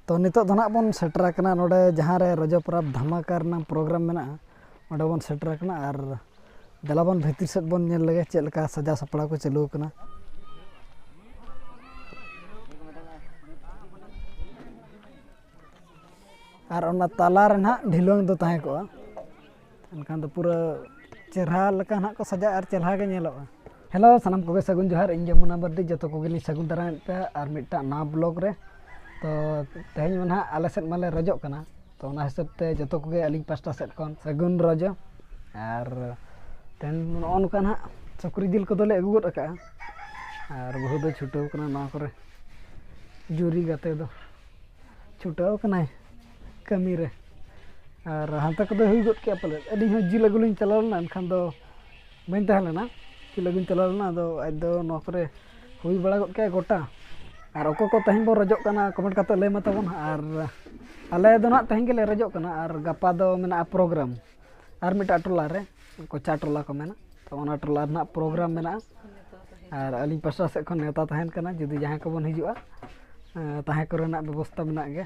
ᱛᱚ ᱱᱤᱛᱚᱜ ᱫᱚ ᱱᱟᱜ ᱵᱚᱱ ᱥᱮᱴᱮᱨ ᱟᱠᱟᱱᱟ ᱱᱚᱰᱮ ᱡᱟᱦᱟᱸ ᱨᱮ ᱨᱚᱡᱚ ᱯᱚᱨᱚᱵᱽ ᱫᱷᱟᱢᱟᱠᱟ ᱨᱮᱱᱟᱜ ᱯᱨᱳᱜᱨᱟᱢ ᱢᱮᱱᱟᱜᱼᱟ ᱚᱸᱰᱮ ᱵᱚᱱ ᱥᱮᱴᱮᱨ ᱟᱠᱟᱱᱟ ᱟᱨ ᱫᱮᱞᱟ ᱵᱚᱱ ᱵᱷᱤᱛᱤᱨ ᱥᱮᱫ ᱵᱚᱱ ᱧᱮᱞ ᱞᱮᱜᱮ ᱪᱮᱫ ᱞᱮᱠᱟ ᱥᱟᱡᱟᱣ ᱥᱟᱯᱲᱟᱣ ᱠᱚ ᱪᱟᱹᱞᱩ ᱟᱠᱟᱱᱟ ᱟᱨ ᱚᱱᱟ ᱛᱟᱞᱟ ᱨᱮ ᱱᱟᱜ ᱰᱷᱤᱞᱣᱟᱹᱝ ᱫᱚ ᱛᱟᱦᱮᱸ ᱠᱚᱜᱼᱟ ᱮᱱᱠᱷᱟᱱ ᱫᱚ ᱯᱩᱨᱟᱹ ᱪᱮᱨᱦᱟ ᱞᱮᱠᱟ ᱱᱟᱦᱟᱜ ᱠᱚ ᱥᱟᱡᱟᱜᱼᱟ ᱟᱨ ᱪᱮᱨᱦᱟ ᱜᱮ ᱧᱮᱞᱚᱜᱼᱟ ᱦᱮᱞᱳ ᱥᱟᱱᱟᱢ ᱠᱚᱜᱮ ᱥᱟᱹᱜᱩᱱ ᱡᱚᱦᱟᱨ ᱤᱧ ᱡᱚᱢᱩᱱᱟ ᱵᱟᱨᱫᱤ ᱡᱚᱛᱚ ᱠᱚᱜᱮᱞᱤᱧ ᱥᱟᱹᱜᱩᱱ ᱫᱟᱨᱟᱢᱮᱫ ᱯᱮᱭᱟ ᱟᱨ ᱢᱤᱫᱴᱟᱝ ᱱᱟᱣᱟ ᱵᱞᱚᱜᱽ ᱨᱮ ᱛᱚ ᱛᱮᱦᱮᱧ ᱢᱟ ᱱᱟᱦᱟᱜ ᱟᱞᱮ ᱥᱮᱫ ᱢᱟᱞᱮ ᱨᱚᱡᱚᱜ ᱠᱟᱱᱟ ᱛᱚ ᱚᱱᱟ ᱦᱤᱥᱟᱹᱵ ᱛᱮ ᱡᱚᱛᱚ ᱠᱚᱜᱮ ᱟᱹᱞᱤᱧ ᱯᱟᱥᱴᱟ ᱥᱮᱫ ᱠᱷᱚᱱ ᱥᱟᱹᱜᱩᱱ ᱨᱚᱡᱚ ᱟᱨ ᱛᱮᱦᱮᱧ ᱱᱚᱜᱼᱚ ᱱᱚᱝᱠᱟ ᱱᱟᱦᱟᱜ ᱥᱩᱠᱨᱤ ᱡᱤᱞ ᱠᱚᱫᱚᱞᱮ ᱟᱹᱜᱩ ᱜᱚᱫ ᱟᱠᱟᱫᱼᱟ ᱟᱨ ᱵᱟᱹᱦᱩ ᱫᱚ ᱪᱷᱩᱴᱟᱹᱣ ᱠᱟᱱᱟ ᱱᱚᱣᱟ ᱠᱚᱨᱮ ᱡᱩᱨᱤ ᱜᱟᱛᱮ ᱫᱚ ᱪᱷᱩᱴᱟᱹᱣ ᱠᱟᱱᱟᱭ ᱠᱟᱹᱢᱤ ᱨᱮ ᱟᱨ ᱦᱟᱱᱛᱮ ᱠᱚᱫᱚ ᱦᱩᱭ ᱜᱚᱫ ᱠᱮᱜᱼᱟ ᱯᱟᱞᱮᱫ ᱟᱹᱞᱤᱧ ᱦᱚᱸ ᱡᱤᱞ ᱟᱹᱜᱩ ᱞᱤᱧ ᱪᱟᱞᱟᱣ ᱞᱮᱱᱟ ᱮᱱᱠᱷᱟᱱ ᱫᱚ ᱵᱟᱹᱧ ᱛᱟᱦᱮᱸ ᱞᱮᱱᱟ ᱡᱤᱞ ᱟᱹᱜᱩᱧ ᱪᱟᱞᱟᱣ ᱞᱮᱱᱟ ᱟᱫᱚ ᱟᱡ ᱫᱚ ᱱᱚᱣᱟ ᱠᱚᱨᱮᱜ ᱦᱩᱭ ᱵᱟᱲᱟ ᱜᱚᱫ ᱠᱮᱜᱼᱟᱭ ᱜᱚᱴᱟ ᱟᱨ ᱚᱠᱚᱭ ᱠᱚ ᱛᱮᱦᱮᱧ ᱵᱚᱱ ᱨᱚᱡᱚᱜ ᱠᱟᱱᱟ ᱠᱚᱢᱮᱱᱴ ᱠᱟᱛᱮᱫ ᱞᱟᱹᱭ ᱢᱮ ᱛᱟᱵᱚᱱ ᱦᱟᱸᱜ ᱟᱨ ᱟᱞᱮ ᱫᱚ ᱦᱟᱸᱜ ᱛᱮᱦᱮᱧ ᱜᱮᱞᱮ ᱨᱚᱡᱚᱜ ᱠᱟᱱᱟ ᱟᱨ ᱜᱟᱯᱟ ᱫᱚ ᱢᱮᱱᱟᱜᱼᱟ ᱯᱨᱳᱜᱨᱟᱢ ᱟᱨ ᱢᱤᱫᱴᱟᱝ ᱴᱚᱞᱟ ᱨᱮ ᱠᱚᱪᱟ ᱴᱚᱞᱟ ᱠᱚ ᱢᱮᱱᱟ ᱛᱚ ᱚᱱᱟ ᱴᱚᱞᱟ ᱨᱮᱱᱟᱜ ᱯᱨᱳᱜᱨᱟᱢ ᱢᱮᱱᱟᱜᱼᱟ ᱟᱨ ᱟᱹᱞᱤᱧ ᱯᱟᱥᱴᱟ ᱥᱮᱫ ᱠᱷᱚᱱ ᱱᱮᱶᱛᱟ ᱛᱟᱦᱮᱱ ᱠᱟᱱᱟ ᱡᱩᱫᱤ ᱡᱟᱦᱟᱸᱭ ᱠᱚᱵᱚᱱ ᱦᱤᱡᱩᱜᱼᱟ ᱛᱟᱦᱮᱸ ᱠᱚᱨᱮᱱᱟᱜ ᱵᱮᱵᱚᱥᱛᱷᱟ ᱢᱮᱱᱟᱜ ᱜᱮᱭᱟ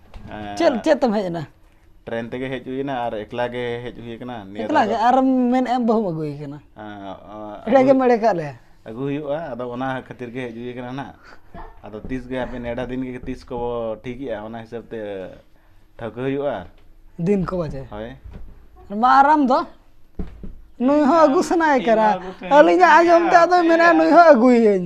ᱪᱮᱫ ᱪᱮᱫ ᱛᱮᱢ ᱦᱮᱡ ᱮᱱᱟ ᱴᱨᱮᱱ ᱛᱮᱜᱮ ᱦᱮᱡ ᱦᱩᱭ ᱮᱱᱟ ᱟᱨ ᱮᱠᱞᱟ ᱜᱮ ᱦᱮᱡ ᱦᱩᱭ ᱟᱠᱟᱱᱟ ᱱᱤᱭᱟᱹ ᱮᱠᱞᱟ ᱜᱮ ᱟᱨ ᱢᱮᱱ ᱮᱢ ᱵᱟᱹᱦᱩᱢ ᱟᱹᱜᱩ ᱟᱠᱟᱱᱟ ᱮᱲᱮ ᱜᱮ ᱢᱮᱲᱮ ᱠᱟᱜ ᱞᱮ ᱟᱹᱜᱩ ᱦᱩᱭᱩᱜᱼᱟ ᱟᱫᱚ ᱚᱱᱟ ᱠᱷᱟᱹᱛᱤᱨ ᱜᱮ ᱦᱮᱡ ᱦᱩᱭ ᱟᱠᱟᱱᱟ ᱱᱟᱜ ᱟᱫᱚ ᱛᱤᱥ ᱜᱮ ᱟᱯᱮ ᱱᱮᱰᱟ ᱫᱤᱱ ᱜᱮ ᱛᱤᱥ ᱠᱚ ᱴᱷᱤᱠᱮᱜᱼᱟ ᱚᱱᱟ ᱦᱤᱥᱟᱹᱵ ᱛᱮ ᱴᱷᱟᱹᱣᱠᱟᱹ ᱦᱩᱭᱩᱜᱼᱟ ᱫᱤᱱ ᱠᱚ ᱵᱟᱡᱮ ᱦᱳᱭ ᱢᱟ ᱟᱨᱟᱢ ᱫᱚ ᱱᱩᱭ ᱦᱚᱸ ᱟᱹᱜᱩ ᱥᱟᱱᱟᱭᱮ ᱠᱟᱱᱟ ᱟᱹᱞᱤᱧᱟᱜ ᱟᱸᱡᱚᱢ ᱛᱮ ᱟᱫᱚᱭ ᱢᱮᱱᱟ ᱱᱩᱭ ᱦᱚᱸ ᱟᱹᱜᱩᱭᱟᱹᱧ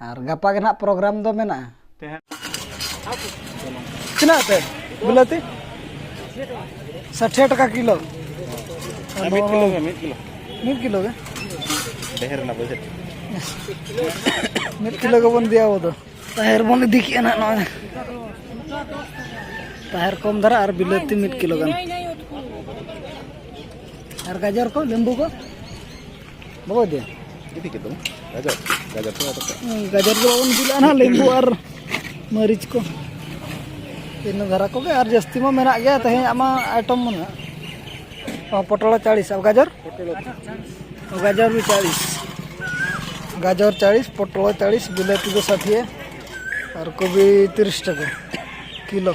ᱟᱨ ᱜᱟᱯᱟ ᱜᱮ ᱱᱟᱦᱟᱜ ᱯᱨᱳᱜᱨᱟᱢ ᱫᱚ ᱢᱮᱱᱟᱜᱼᱟ ᱛᱤᱱᱟᱹᱜ ᱛᱮ ᱵᱤᱞᱟᱹᱛᱤ ᱥᱟᱴᱷᱮ ᱴᱟᱠᱟ ᱠᱤᱞᱳ ᱢᱤᱫ ᱠᱤᱞᱳ ᱜᱮ ᱢᱤᱫ ᱠᱤᱞᱳ ᱢᱤᱫ ᱠᱤᱞᱳ ᱜᱮ ᱰᱷᱮᱨ ᱨᱮᱱᱟᱜ ᱵᱟᱡᱮᱴ ᱢᱤᱫ ᱠᱤᱞᱳ ᱜᱮᱵᱚᱱ ᱤᱫᱤᱭᱟ ᱟᱵᱚ ᱫᱚ ᱛᱟᱦᱮᱨ ᱵᱚᱱ ᱤᱫᱤ ᱠᱮᱜᱼᱟ ᱱᱟᱦᱟᱜ ᱱᱚᱜᱼᱚᱭ ᱛᱟᱦᱮᱨ ᱠᱚᱢ ᱫᱷᱟᱨᱟ ᱟᱨ ᱵᱤᱞᱟᱹᱛᱤ ᱢᱤᱫ ᱠᱤᱞᱳ ᱜᱟᱱ ᱟᱨ ᱜᱟᱡᱚᱨ ᱠᱚ ᱞᱮᱢᱵᱩ ᱠᱚ ᱵᱟᱠᱚ ᱤᱫᱤᱭᱟ ᱤᱫᱤ ᱠᱮᱫ ᱛᱟᱵᱚᱱ ᱜᱟᱡᱚᱨ ᱜᱟᱡᱚᱨ ᱠᱚ ᱟᱫᱚ ᱜᱟᱡᱚᱨ ᱫᱚ ᱵᱟᱵᱚᱱ ᱤᱫᱤ ᱞᱮᱜᱼᱟ ᱱᱟᱦᱟᱜ ᱞᱮᱵᱩ ᱟᱨ ᱢᱟᱹᱨᱤᱪ ᱠᱚ ᱤᱱᱟᱹ ᱫᱷᱟᱨᱟ ᱠᱚᱜᱮ ᱟᱨ ᱡᱟᱹᱥᱛᱤ ᱢᱟ ᱢᱮᱱᱟᱜ ᱜᱮᱭᱟ ᱛᱮᱦᱮᱧᱟᱜ ᱢᱟ ᱟᱭᱴᱚᱢ ᱢᱟ ᱱᱟᱦᱟᱜ ᱚ ᱯᱚᱴᱚᱞ ᱪᱟᱲᱤᱥ ᱟᱨ ᱜᱟᱡᱚᱨ ᱚ ᱜᱟᱡᱚᱨ ᱵᱤ ᱪᱟᱲᱤᱥ ᱜᱟᱡᱚᱨ ᱪᱟᱲᱤᱥ ᱯᱚᱴᱚᱞ ᱪᱟᱲᱤᱥ ᱵᱤᱞᱟᱹᱛᱤ ᱫᱚ ᱥᱟᱴᱷᱤᱭᱮ ᱟᱨ ᱠᱚᱵᱤ ᱛᱤᱨᱤᱥ ᱴᱟᱠᱟ ᱠᱤᱞᱳ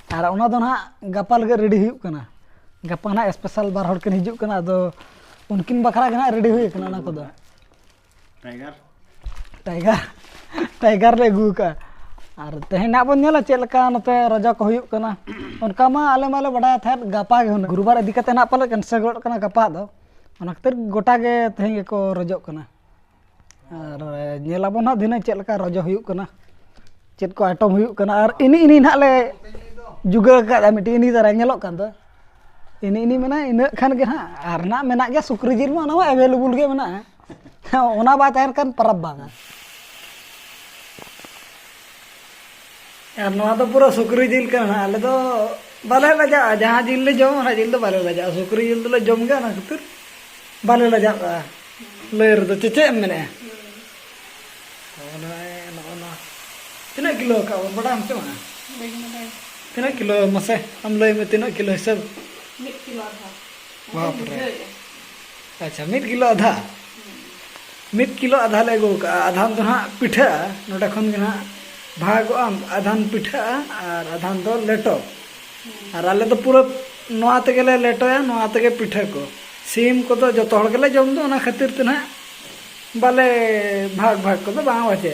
ᱟᱨ ᱚᱱᱟ ᱫᱚ ᱱᱟᱦᱟᱜ ᱜᱟᱯᱟ ᱞᱟᱹᱜᱤᱫ ᱨᱮᱰᱤ ᱦᱩᱭᱩᱜ ᱠᱟᱱᱟ ᱜᱟᱯᱟ ᱱᱟᱦᱟᱜ ᱮᱥᱯᱮᱥᱟᱞ ᱵᱟᱨ ᱦᱚᱲ ᱠᱤᱱ ᱦᱤᱡᱩᱜ ᱠᱟᱱᱟ ᱟᱫᱚ ᱩᱱᱠᱤᱱ ᱵᱟᱠᱷᱨᱟ ᱜᱮ ᱱᱟᱦᱟᱜ ᱨᱮᱰᱤ ᱦᱩᱭ ᱠᱟᱱᱟ ᱚᱱᱟ ᱠᱚᱫᱚ ᱴᱟᱭᱜᱟᱨ ᱴᱟᱭᱜᱟᱨ ᱴᱟᱭᱜᱟᱨ ᱞᱮ ᱟᱹᱜᱩ ᱠᱟᱜᱼᱟ ᱟᱨ ᱛᱮᱦᱮᱧ ᱱᱟᱦᱟᱜ ᱵᱚᱱ ᱧᱮᱞᱟ ᱪᱮᱫ ᱞᱮᱠᱟ ᱱᱚᱛᱮ ᱨᱟᱡᱟ ᱠᱚ ᱦᱩᱭᱩᱜ ᱠᱟᱱᱟ ᱚᱱᱠᱟ ᱢᱟ ᱟᱞᱮ ᱢᱟᱞᱮ ᱵᱟᱰᱟᱭ ᱛᱟᱦᱮᱸᱫ ᱜᱟᱯᱟ ᱜᱮ ᱦᱩᱱᱟᱹᱝ ᱜᱩᱨᱩᱵᱟᱨ ᱤᱫᱤ ᱠᱟᱛᱮ ᱱᱟᱦᱟᱜ ᱯᱟᱞᱮ ᱠᱮᱱᱥᱮᱞ ᱜᱚᱫ ᱠᱟᱱᱟ ᱜᱟᱯᱟ ᱫᱚ ᱚᱱᱟ ᱠᱷᱟᱹᱛᱤᱨ ᱜᱚᱴᱟ ᱜᱮ ᱛᱮᱦᱮᱧ ᱜᱮᱠᱚ ᱨᱚᱡᱚᱜ ᱠᱟᱱᱟ ᱟᱨ ᱧᱮᱞᱟᱵᱚᱱ ᱱᱟᱦᱟᱜ ᱫᱷᱤᱱᱟᱹᱝ ᱪᱮᱫ ᱞᱮᱠᱟ ᱨᱚᱡᱚ ᱦᱩᱭᱩᱜ ᱠᱟᱱᱟ ᱪᱮᱫ ᱠᱚ ᱟᱭᱴᱚᱢ ᱦᱩᱭᱩᱜ ᱠᱟᱱᱟ ᱟᱨ ᱮᱱᱮ ᱮᱱᱮ ᱱᱟᱦᱟᱜ ᱞᱮ ᱡᱩᱜᱟᱹᱲ ᱠᱟᱜᱼᱟ ᱢᱤᱫᱴᱤᱡ ᱮᱱᱮ ᱫᱷᱟᱨᱟ ᱧᱮᱞᱚᱜ ᱠᱟᱱ ᱫᱚ ᱮᱱᱮ ᱮᱱᱮ ᱢᱮᱱᱟᱭ ᱤᱱᱟᱹᱜ ᱠᱷᱟᱱ ᱜᱮ ᱱᱟᱦᱟᱜ ᱟᱨ ᱱᱟᱦᱟᱜ ᱢᱮᱱᱟᱜ ᱜᱮᱭᱟ ᱥᱩᱠᱨᱤ ᱡᱤᱞ ᱢᱟ ᱚᱱᱟ ᱢᱟ ᱮᱵᱮᱞᱮᱵᱮᱞ ᱜᱮ ᱢᱮᱱᱟᱜᱼᱟ ᱚᱱᱟ ᱵᱟᱭ ᱛᱟᱦᱮᱱ ᱠᱷᱟᱱ ᱯᱚᱨᱚᱵᱽ ᱵᱟᱝᱟ ᱟᱨ ᱱᱚᱣᱟ ᱫᱚ ᱯᱩᱨᱟᱹ ᱥᱩᱠᱨᱤ ᱡᱤᱞ ᱠᱟᱱᱟ ᱟᱞᱮ ᱫᱚ ᱵᱟᱞᱮ ᱞᱟᱡᱟᱜᱼᱟ ᱡᱟᱦᱟᱸ ᱡᱤᱞ ᱞᱮ ᱡᱚᱢᱟ ᱚᱱᱟ ᱡᱤᱞ ᱫᱚ ᱵᱟᱞᱮ ᱞᱟᱡᱟᱜᱼᱟ ᱥᱩᱠᱨᱤ ᱡᱤᱞ ᱫᱚᱞᱮ ᱡᱚᱢ ᱜᱮᱭᱟ ᱚᱱᱟ ᱠᱷᱟᱹᱛᱤᱨ ᱵᱟᱞᱮ ᱞᱟᱡᱟᱜᱼᱟ ᱞᱟᱹᱭ ᱨᱮᱫᱚ ᱪᱮᱫ ᱮᱢ ᱢᱮᱱᱮᱜᱼᱟ ᱛᱤᱱᱟᱹᱜ ᱠᱤᱞᱳ ᱠᱟᱜ ᱵᱚᱱ ᱵᱟᱰᱟᱭᱟᱢ ᱥᱮ ᱵᱟᱝᱟ ᱛᱤᱱᱟᱹᱜ ᱠᱤᱞᱳ ᱢᱟᱥᱮ ᱟᱢ ᱞᱟᱹᱭ ᱢᱮ ᱛᱤᱱᱟᱹᱜ ᱠᱤᱞᱳ ᱦᱤᱥᱟᱹᱵ ᱢᱤᱫ ᱠᱤᱞᱳ ᱟᱫᱷᱟ ᱵᱟᱯ ᱨᱮ ᱟᱪᱪᱷᱟ ᱢᱤᱫ ᱠᱤᱞᱳ ᱟᱫᱷᱟ ᱢᱤᱫ ᱠᱤᱞᱳ ᱟᱫᱷᱟ ᱞᱮ ᱟᱹᱜᱩ ᱠᱟᱜᱼᱟ ᱟᱫᱷᱟᱱ ᱫᱚ ᱦᱟᱸᱜ ᱯᱤᱴᱷᱟᱹᱜᱼᱟ ᱱᱚᱰᱮ ᱠᱷᱚᱱ ᱜᱮ ᱦᱟᱸᱜ ᱵᱷᱟᱜᱚᱜ ᱟᱢ ᱟᱫᱷᱟᱱ ᱯᱤᱴᱷᱟᱹᱜᱼᱟ ᱟᱨ ᱟᱫᱷᱟᱱ ᱫᱚ ᱞᱮᱴᱚ ᱟᱨ ᱟᱞᱮ ᱫᱚ ᱯᱩᱨᱟᱹ ᱱᱚᱣᱟ ᱛᱮᱜᱮ ᱞᱮ ᱞᱮᱴᱚᱭᱟ ᱱᱚᱣᱟ ᱛᱮᱜᱮ ᱯᱤᱴᱷᱟᱹ ᱠᱚ ᱥᱤᱢ ᱠᱚᱫᱚ ᱡᱚᱛᱚ ᱦᱚᱲ ᱜᱮᱞᱮ ᱡᱚᱢ ᱫᱚ ᱚᱱᱟ ᱠᱷᱟᱹᱛᱤᱨ ᱛᱮ ᱦᱟᱸᱜ ᱵᱟᱞᱮ ᱵᱷᱟᱜᱽ ᱵᱷᱟᱜᱽ ᱠᱚᱫᱚ ᱵᱟᱝ ᱵᱟᱪᱮ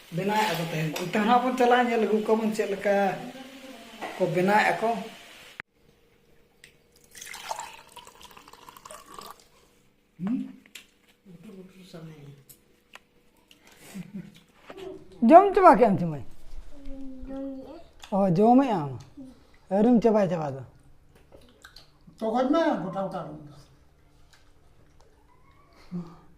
ᱵᱮᱱᱟᱣᱮᱫ ᱟᱠᱚ ᱛᱟᱦᱮᱱ ᱚᱱᱛᱮ ᱦᱚᱸ ᱵᱚᱱ ᱪᱟᱞᱟᱜᱼᱟ ᱧᱮᱞ ᱟᱹᱜᱩ ᱠᱚᱣᱟᱵᱚᱱ ᱪᱮᱫ ᱞᱮᱠᱟ ᱠᱚ ᱵᱮᱱᱟᱣᱮᱫ ᱟᱠᱚ ᱡᱚᱢ ᱪᱟᱵᱟ ᱠᱮᱫ ᱟᱢ ᱪᱩᱢᱟᱹᱭ ᱚ ᱡᱚᱢᱮᱫ ᱟᱢ ᱟᱹᱣᱨᱤᱢ ᱪᱟᱵᱟᱭ ᱪᱟᱵᱟ ᱫᱚ ᱛᱚᱜᱚᱡ ᱢᱮ ᱜᱚᱴᱟ ᱜᱚᱴᱟ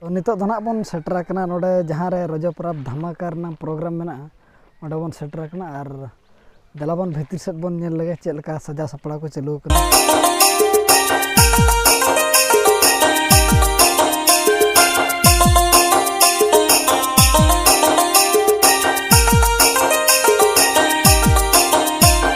ᱛᱚ ᱱᱤᱛᱚᱜ ᱫᱚ ᱱᱟᱜ ᱵᱚᱱ ᱥᱮᱴᱮᱨ ᱟᱠᱟᱱᱟ ᱱᱚᱰᱮ ᱡᱟᱦᱟᱸ ᱨᱮ ᱨᱚᱡᱚ ᱯᱚᱨᱚᱵᱽ ᱫᱷᱟᱢᱟᱠᱟ ᱨᱮᱱᱟᱜ ᱯᱨᱳᱜᱨᱟᱢ ᱢᱮᱱᱟᱜᱼᱟ ᱚᱸᱰᱮ ᱵᱚᱱ ᱥᱮᱴᱮᱨ ᱟᱠᱟᱱᱟ ᱟᱨ ᱫᱮᱞᱟ ᱵᱚᱱ ᱵᱷᱤᱛᱤᱨ ᱥᱮᱫ ᱵᱚᱱ ᱧᱮᱞ ᱞᱮᱜᱮ ᱪᱮᱫ ᱞᱮᱠᱟ ᱥᱟᱡᱟᱣ ᱥᱟᱯᱲᱟᱣ ᱠᱚ ᱪᱟᱹᱞᱩ ᱟᱠᱟᱱᱟ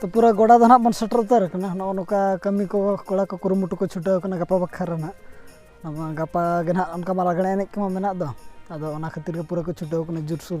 ᱛᱚ ᱯᱩᱨᱟᱹ ᱜᱚᱰᱟ ᱫᱚ ᱱᱟᱜ ᱵᱚᱱ ᱥᱮᱴᱮᱨ ᱩᱛᱟᱹᱨ ᱟᱠᱟᱱᱟ ᱱᱚᱜᱼᱚ ᱱᱚᱝᱠᱟ ᱠᱟᱹᱢᱤ ᱠᱚ ᱠᱚᱲᱟ ᱠᱚ ᱠᱩᱨᱩᱢᱩᱴᱩ ᱠᱚ ᱪᱷᱩᱴᱟᱹᱣ ᱟᱠᱟᱱᱟ ᱜᱟᱯᱟ ᱵᱟᱠᱷᱨᱟ ᱨᱮᱱᱟᱜ ᱜᱟᱯᱟ ᱜᱮ ᱱᱟᱜ ᱚᱱᱠᱟ ᱢᱟ ᱞᱟᱜᱽᱬᱮ ᱮᱱᱮᱡ ᱠᱚᱢᱟ ᱢᱮᱱᱟᱜ ᱫᱚ ᱟᱫᱚ ᱚᱱᱟ ᱠᱷᱟᱹᱛᱤᱨ ᱜᱮ ᱯᱩᱨᱟᱹ ᱠᱚ ᱪᱷᱩᱴᱟᱹᱣ ᱟᱠᱟᱱᱟ ᱡᱳᱨᱥᱳᱨ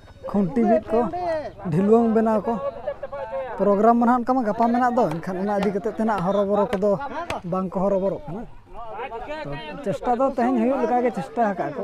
ᱠᱷᱩᱱᱴᱤ ᱵᱤᱫ ᱠᱚ ᱰᱷᱤᱞᱣᱟᱹᱝ ᱵᱮᱱᱟᱣ ᱠᱚ ᱯᱨᱳᱜᱨᱟᱢ ᱢᱟ ᱱᱟᱦᱟᱜ ᱚᱱᱠᱟ ᱢᱟ ᱜᱟᱯᱟ ᱢᱮᱱᱟᱜ ᱫᱚ ᱮᱱᱠᱷᱟᱱ ᱚᱱᱟ ᱤᱫᱤ ᱠᱟᱛᱮᱫ ᱛᱮ ᱱᱟᱦᱟᱜ ᱦᱚᱨᱚᱵᱚᱨᱚ ᱠᱚᱫᱚ ᱵᱟᱝ ᱠᱚ ᱦᱚᱨᱚᱵᱚᱨᱚᱜ ᱠᱟᱱᱟ ᱛᱚ ᱪᱮᱥᱴᱟ ᱫᱚ ᱛᱮᱦᱮᱧ ᱦᱩᱭᱩᱜ ᱞᱮᱠᱟ ᱜᱮ ᱪᱮᱥᱴᱟ ᱟᱠᱟᱫ ᱠᱚ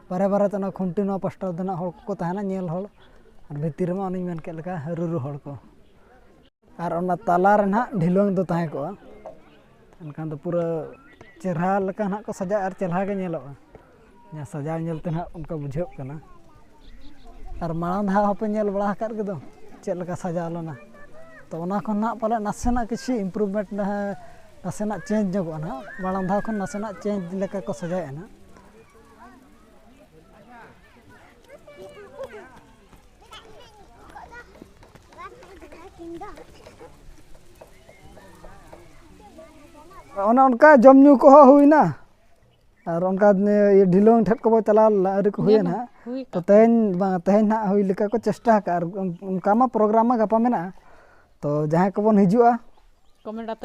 ᱵᱟᱨᱦᱮ ᱵᱟᱨᱦᱮ ᱛᱮ ᱚᱱᱟ ᱠᱷᱩᱱᱴᱤ ᱱᱚᱣᱟ ᱯᱟᱥᱴᱟ ᱨᱮᱫᱚ ᱦᱟᱸᱜ ᱦᱚᱲ ᱠᱚᱠᱚ ᱛᱟᱦᱮᱱᱟ ᱧᱮᱞ ᱦᱚᱲ ᱟᱨ ᱵᱷᱤᱛᱤᱨ ᱨᱮᱢᱟ ᱚᱱᱮᱧ ᱢᱮᱱ ᱠᱮᱫ ᱞᱮᱠᱟ ᱨᱩᱨᱩ ᱦᱚᱲ ᱠᱚ ᱟᱨ ᱚᱱᱟ ᱛᱟᱞᱟ ᱨᱮ ᱦᱟᱸᱜ ᱰᱷᱤᱞᱣᱟᱹᱝ ᱫᱚ ᱛᱟᱦᱮᱸ ᱠᱚᱜᱼᱟ ᱮᱱᱠᱷᱟᱱ ᱫᱚ ᱯᱩᱨᱟᱹ ᱪᱮᱨᱦᱟ ᱞᱮᱠᱟ ᱦᱟᱸᱜ ᱠᱚ ᱥᱟᱡᱟᱜᱼᱟ ᱟᱨ ᱪᱮᱨᱦᱟ ᱜᱮ ᱧᱮᱞᱚᱜᱼᱟ ᱡᱟᱦᱟᱸ ᱥᱟᱡᱟᱣ ᱧᱮᱞ ᱛᱮ ᱦᱟᱸᱜ ᱚᱱᱠᱟ ᱵᱩᱡᱷᱟᱹᱜ ᱠᱟᱱᱟ ᱟᱨ ᱢᱟᱲᱟᱝ ᱫᱷᱟᱣ ᱦᱚᱸᱯᱮ ᱧᱮᱞ ᱵᱟᱲᱟ ᱟᱠᱟᱫ ᱜᱮᱫᱚ ᱪᱮᱫ ᱞᱮᱠᱟ ᱥᱟᱡᱟᱣ ᱞᱮᱱᱟ ᱛᱚ ᱚᱱᱟ ᱠᱷᱚᱱ ᱦᱟᱸᱜ ᱯᱟᱞᱮ ᱱᱟᱥᱮᱱᱟᱜ ᱠᱤᱪᱷᱩ ᱤᱢᱯᱨᱩᱵᱷᱢᱮᱱᱴ ᱱᱟᱥᱮᱱᱟᱜ ᱪᱮᱧᱡᱽ ᱧᱚᱜᱚᱜᱼᱟ ᱦᱟᱸᱜ ᱢᱟᱲᱟᱝ ᱫᱷᱟᱣ ᱠᱷᱚᱱ ᱱᱟᱥᱮᱱᱟᱜ ᱪᱮᱧᱡᱽ ᱞᱮᱠᱟ ᱠᱚ ᱥᱟᱡᱟᱣᱮᱫᱼᱟ ᱦᱟᱸᱜ ᱚᱱᱮ ᱚᱱᱠᱟ ᱡᱚᱢ ᱧᱩ ᱠᱚᱦᱚᱸ ᱦᱩᱭᱱᱟ ᱟᱨ ᱚᱱᱠᱟ ᱰᱷᱤᱞᱳᱝ ᱴᱷᱮᱡ ᱠᱚᱵᱚ ᱪᱟᱞᱟᱣ ᱞᱮᱱᱟ ᱟᱹᱣᱨᱤ ᱠᱚ ᱦᱩᱭᱮᱱᱟ ᱛᱚ ᱛᱮᱦᱮᱧ ᱵᱟᱝ ᱛᱮᱦᱮᱧ ᱱᱟᱜ ᱦᱩᱭ ᱞᱮᱠᱟ ᱠᱚ ᱪᱮᱥᱴᱟ ᱟᱠᱟᱫᱼᱟ ᱟᱨ ᱚᱱᱠᱟ ᱢᱟ ᱯᱨᱳᱜᱨᱟᱢ ᱢᱟ ᱜᱟᱯᱟ ᱢᱮᱱᱟᱜᱼᱟ ᱛᱚ ᱡᱟᱦᱟᱸᱭ ᱠᱚᱵᱚᱱ ᱦᱤᱡᱩᱜᱼᱟ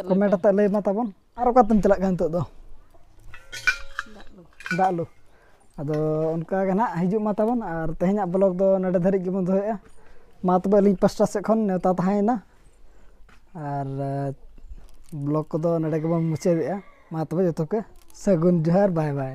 ᱠᱚᱢᱮᱱᱴ ᱟᱛᱮᱫ ᱞᱟᱹᱭ ᱢᱟ ᱛᱟᱵᱚᱱ ᱟᱨ ᱚᱠᱟᱛᱮᱢ ᱪᱟᱞᱟᱜ ᱠᱟᱱᱟ ᱱᱤᱛᱚᱜ ᱫᱚ ᱫᱟᱜ ᱞᱩ ᱟᱫᱚ ᱚᱱᱠᱟ ᱜᱮ ᱱᱟᱦᱟᱜ ᱦᱤᱡᱩᱜ ᱢᱟ ᱛᱟᱵᱚᱱ ᱟᱨ ᱛᱮᱦᱮᱧᱟᱜ ᱵᱞᱚᱜ ᱫᱚ ᱱᱚᱰᱮ ᱫᱷᱟᱹᱨᱤᱡ ᱜᱮᱵᱚᱱ ᱫᱚᱦᱚᱭᱮᱫᱼᱟ ᱢᱟ ᱛᱚᱵᱮ ᱟᱹᱞᱤᱧ ᱯᱟᱥᱴᱟ ᱥᱮᱫ ᱠᱷᱚᱱ ᱱᱮᱣᱛᱟ ᱛᱟᱦᱮᱸᱭᱮᱱᱟ ᱟᱨ ᱵᱞᱚᱜ ᱠᱚᱫᱚ ᱱᱚᱰᱮ ᱜᱮᱵᱚᱱ ᱢᱩᱪᱟᱹᱫᱮᱜᱼᱟ ᱢᱟ ᱛᱚᱵᱮ ᱡᱚᱛᱚ ᱠᱚ ᱥᱟᱹᱜᱩᱱ ᱡᱚᱦᱟᱨ ᱵᱟᱭ ᱵᱟᱭ